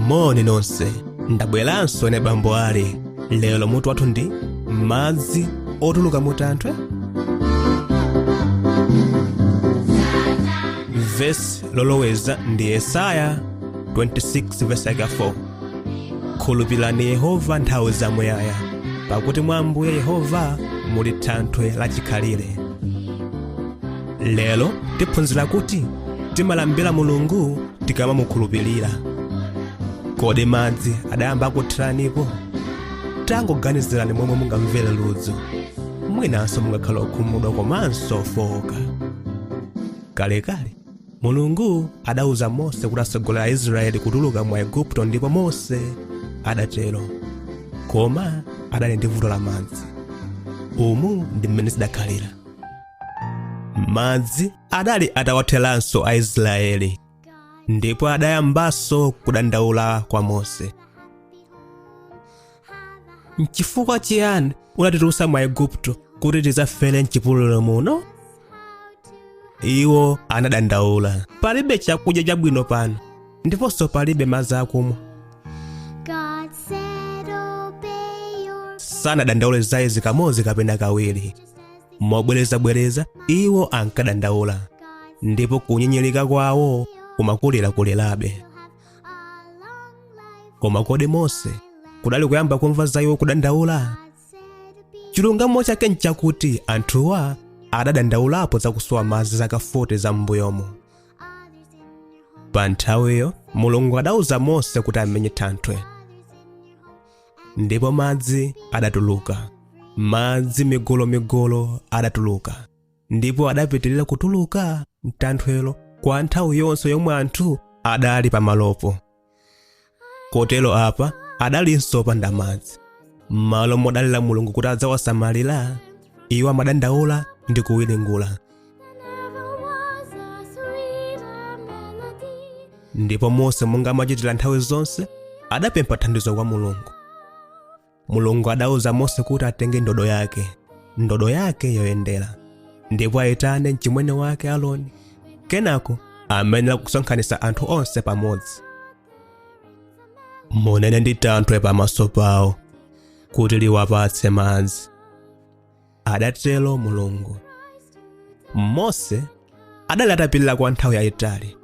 moni nonse ndabweranso ine bambo ali lero mutu wathu ndi madzi otuluka muthanthwe vesi loloweza ndi yesaya 26 vesi 4 khulupirani yehova nthawi zamuyaya pakuti mwa ambuye yehova muli thanthwe lachikhalire lero tiphunzira kuti timalambira mulungu tikamamukhulupirira kodi madzi adayamba akutheranipo tangoganizirani momwe mungamvere ludzu mwinanso mungakhale okhumudwa komanso ofowoka kalekale mulungu adauza mose kuti atsogolere aisraeli kutuluka mwa aigupto ndipo mose adatero koma adali ndi vuto la madzi umu ndi mmene zidakhalira madzi adali atawatheranso aisraeli ndipo adayambanso kudandaula kwa mose nchifukwa chiyani unatitulutsa mwa aigupto kuti tidzafere mchipululu muno iwo anadandaula palibe chakudya chabwino pano ndiponso palibe madzi akumwa sanadandaule za izi kamodzi kapena kawiri mobwerezabwereza iwo ankadandaula ndipo kunyinyirika kwawo kumakulirakulirabe koma kodi mose kudali kuyamba kumva za iwo kudandaula chilungamo chake nchakuti anthuwa adadandaulapo za kusowa madzi zaka 40 za m'mbuyomo pa nthawiyo mulungu adauza mose kuti amenye thanthwe ndipo madzi adatuluka madzi migolomigolo adatuluka ndipo adapitirira kutuluka mthanthwelo kwa nthawi yonse yomwe anthu adali pamalopo kotero apa adalinso opanda madzi m'malo modalira mulungu kuti adzawasamalira iwo amadandaula ndi kuwiringula ndipo mose monga amachitira nthawi zonse adapempha thandizo kwa mulungu mulungu adauza mose kuti atenge ndodo yake ndodo yake yoyendera ndipo ayitane mchimwene wake aroni kenako amayenera kusonkhanitsa anthu onse pamodzi munene ndi thanthwe pamaso pawo kuti liwapatse madzi adatero mulungu mose adali atapirira kwa nthawi yayitali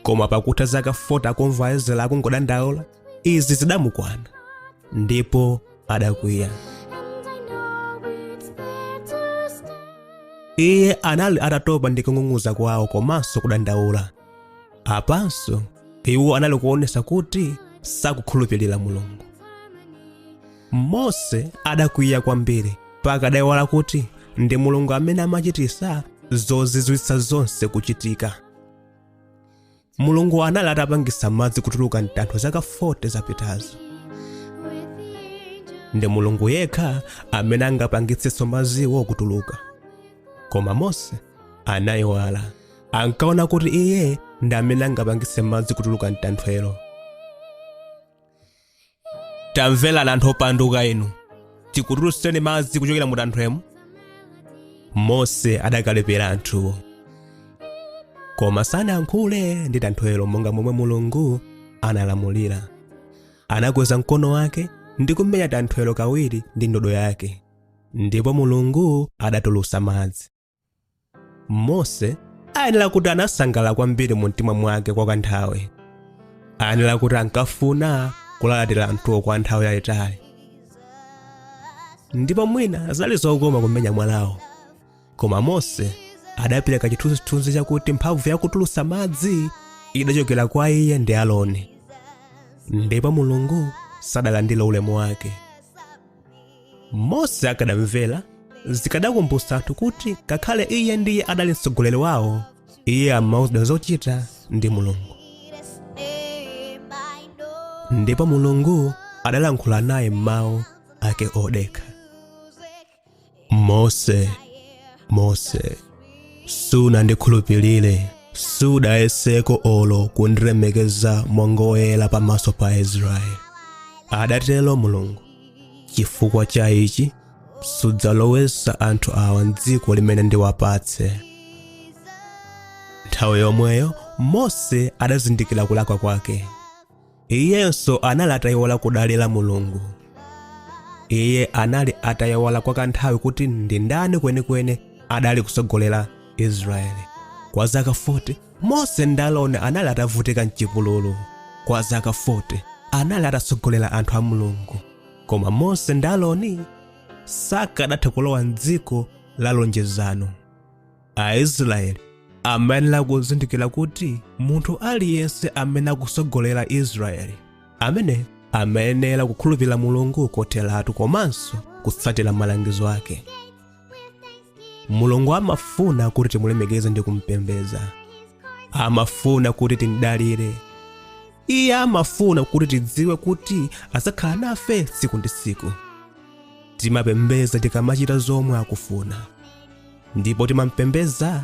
koma pakutha zaka 40 akumva aisraeli akungodandaula izi zidamukwana ndipo adakwiya iye anali atatopa ndi kung'ung'uza kwawo komanso kudandaula apanso iwo anali kuonesa kuti sakukhulupirira mulungu mose adakwiya kwambiri mpaka adaiwala kuti ndi mulungu amene amachititsa zozizwitsa zonse kuchitika mulungu anali atapangitsa madzi kutuluka mtanthwe zaka 40 zapitazo ndi mulungu yekha amene angapangitsenso madziwo kutuluka koma mose anaiwala ankaona kuti iye ndi amene angapangitse madzi kutuluka mtanthwelo tamverani anthu opanduka inu tikutulutseni madzi kuchokera mu tanthwemo mose adakalipira anthuwo koma sanayankhule ndi tanthwelo monga momwe mulungu analamulira anakweza mkono wake ndi kumenya tanthwelo kawiri ndi ndodo yake ndipo mulungu adatulutsa madzi mose ayenera kuti anasangalala kwambiri mu mtima mwake kwa kanthawi ayenera kuti ankafuna kulalatira anthuwo kwa nthawi yayitali ndipo mwina zidali zokoma kumenya mwalawo koma mose adapereka chithunzithunzi chakuti mphamvu yakutulutsa madzi idachokera kwa iye ndi aloni ndipo mulungu sadalandire ulemu wake mose akadamvera zikadakumbutsa anthu kuti ngakhale iye ndiye adali mtsogoleri wawo iye amauzidwa zochita ndi mulungu ndipo mulungu adalankhula naye m'mawu ake odekha mose mose sunandikhulupirire sudayeseko olo kundilemekeza monga woyera pamaso pa aisraeli adatero mulungu chifukwa cha ichi sudzalowesa anthu awa m'dziko limene ndiwapatse nthawi yomweyo mose adazindikira kulakwa kwake iyenso anali atayiwala kudalira mulungu iye anali atayiwala kwa kanthawi kuti ndi ndani kwenikweni adali kutsogolera israeli kwa zaka 40 mose ndi aroni anali atavutika mchipululu kwa zaka 40 anali atatsogolera anthu a mulungu koma mose ndi aroni sakadatha kulowa mdziko la lonjezano aisraeli amayenera kuzindikira kuti munthu aliyense amene akutsogolera aisraeli amene amayenera kukhulupirira mulungu kotheratu komanso kutsatira malangizo ake mulungu amafuna kuti timulemekeze ndi kumpembedza amafuna kuti timdalire iye amafuna kuti tidziwe kuti adzakhala nafe tsiku ndi tsiku timapembedza tikamachita zomwe akufuna ndipo timampembedza